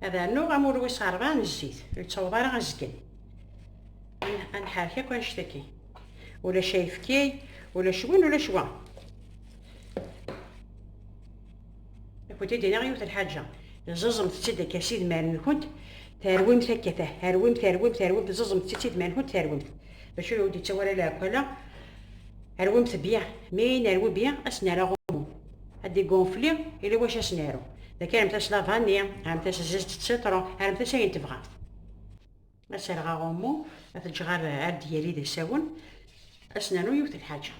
ad rnuɣ amur wis ṛebɛa n zzit ur yettaweḍ ara azgen ad nḥerrek akk anect akin ulac ayefki ulac win ulac wa akked id iniɣ yiwet lḥaǧa ẓẓẓemt-tt-id akka s idmaren-nkent terwimt akka terwimt terwimt terwimt ẓẓẓemt-tt-id s idmaren-nkent terwimt bac ur awen-d-yettawi ara leɛkwala rwimt bya mi nerwi bya ad s-nerr aɣummu ad d-igunfli ili wacu ad s-naru, d akka rremt-as la vanni, rremt-as zzet d sitṛu, rremt-as ayen tebɣamt. Ad serreɣ aɣummu, ad t-ǧǧeɣ ar d-yali d asawen, ad s-nernu yiwet n lḥaǧa.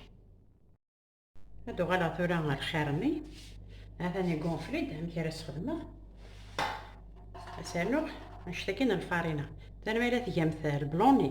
Ad d-uɣaleɣ tura ɣer lxir-nni, ha-t-an igunfli-d, amek ara s-xedmeɣ? Ad s-rnuɣ anect-a kan n lfarina. Tani ma yella tgamt lbloni,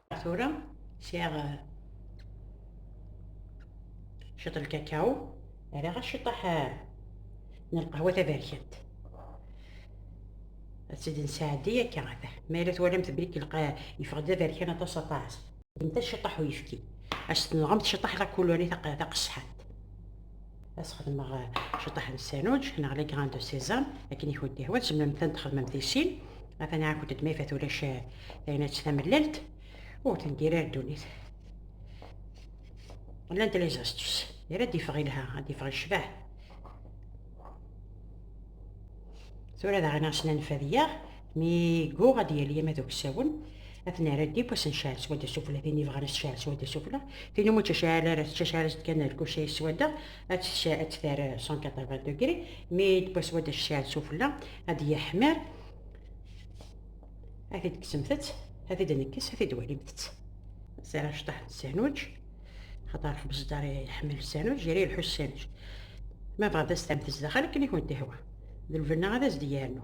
tura sɛiɣ eh, ciṭ lkakaw rriɣ aciṭaḥ eh, n lqahwa taberkant ad tt-id-nesɛeddi akka ata mi ara twalamt belli lqa yeffeɣ-d d aberkan aṭas aṭas ddemt aciṭaḥ uyefki as tenɣemt ciṭaḥ lakuluri taqesḥant as xedmeɣ ciṭaḥ n sanuǧ neɣ les grains de sésame akken i kent ihwa tzemlem tan txedmem di sin atan ɛakent-d ma ifat ulac taynatt tamellalt ur tendir ar ddunit llant les astuces yal ad d-ifeɣ ilha ad d-ifeɣ icbaḥ tura daɣen aɣ-snan fadiyaɣ Mi yegguɣ ad yali ama d uksawen, ad t-nerr adib, ad s-necɛel s wadda sufella, tin yebɣan ad s-tecɛel s wadda sufella, tin umi tt-tecɛel ara tettcɛel-as-d kan lkuca-is s wadda, ad tt-terr 180 degrés, mi d-tewwa s wadda tecɛel sufella, ad d-yeḥmir, ad t-id-kksemt-tt, ad t-id-nekkes, ad t-id-walimt-tt. Sɛiɣ acṭaḥ n sandwich, xaṭer xbez dar iḥemmel sandwich, yal yelḥu sandwich. Ma bɣant ad s-terremt zdaxel akken i kent-ihwa, d lbenna ad as-d-yernu.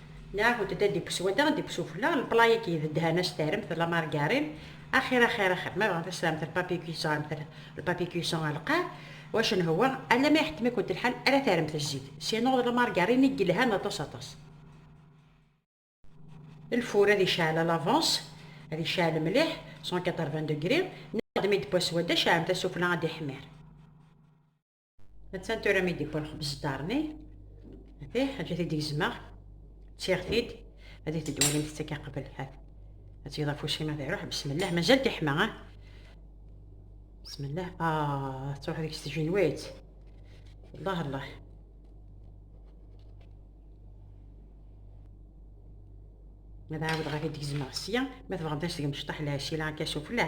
Neɣ d ad d-ikkes wadda, ad d-ikkes ufella, lpla-agi yedhan a s-terremt la margarine, axir axir axir, ma bɣant a s-terremt lpapier cuisson rremt lpapier cuisson ɣer lqaɛ, wacu n hwa, alama iḥettem-ikent lḥal ara terremt zzit, sinon d la margarine i yelhan aṭas aṭas. Lfur ad iceɛl à l'avance, ad iceɛl mliḥ, cent quatre-vingts degrés, neɣ d mi d-tewwa s wadda, ceɛlemt-as ufella ad iḥmir. Attan tura mi d-iwwa lexbez ddarni. Ati, ḥaǧat i d-gezmeɣ. Ttiɣ-t-id. Ad it-id walimt ttaka qbel. Hat. Ad tgeḍ afus-im ad iruḥ. Bismillah, mazal tiḥma, ah. Bismillah. Ah, tettruḥ deg-s tjinwit. Allah, Allah. Ad ɛawdeɣ ad t-id-gezmeɣ sya. Ma tebɣamt ad s-tgem cṭaḥ lɛesila akka sufella.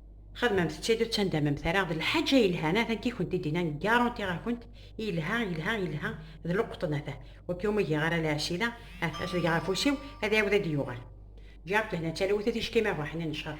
Xedmemt ttid ur ttndamemt ara d lḥaǧa yelhan ata nekk i kent-id-inan ggaṛuntiɣ-akent yelha yelha yelha d luqṭen ata wakk iwumi giɣ ara lɛesila ata as deg afus-iw ad iɛiwed ad d-yuɣal ǧǧiɣ lehna d talwit a ticki ma bɣaḥni n cceṛ.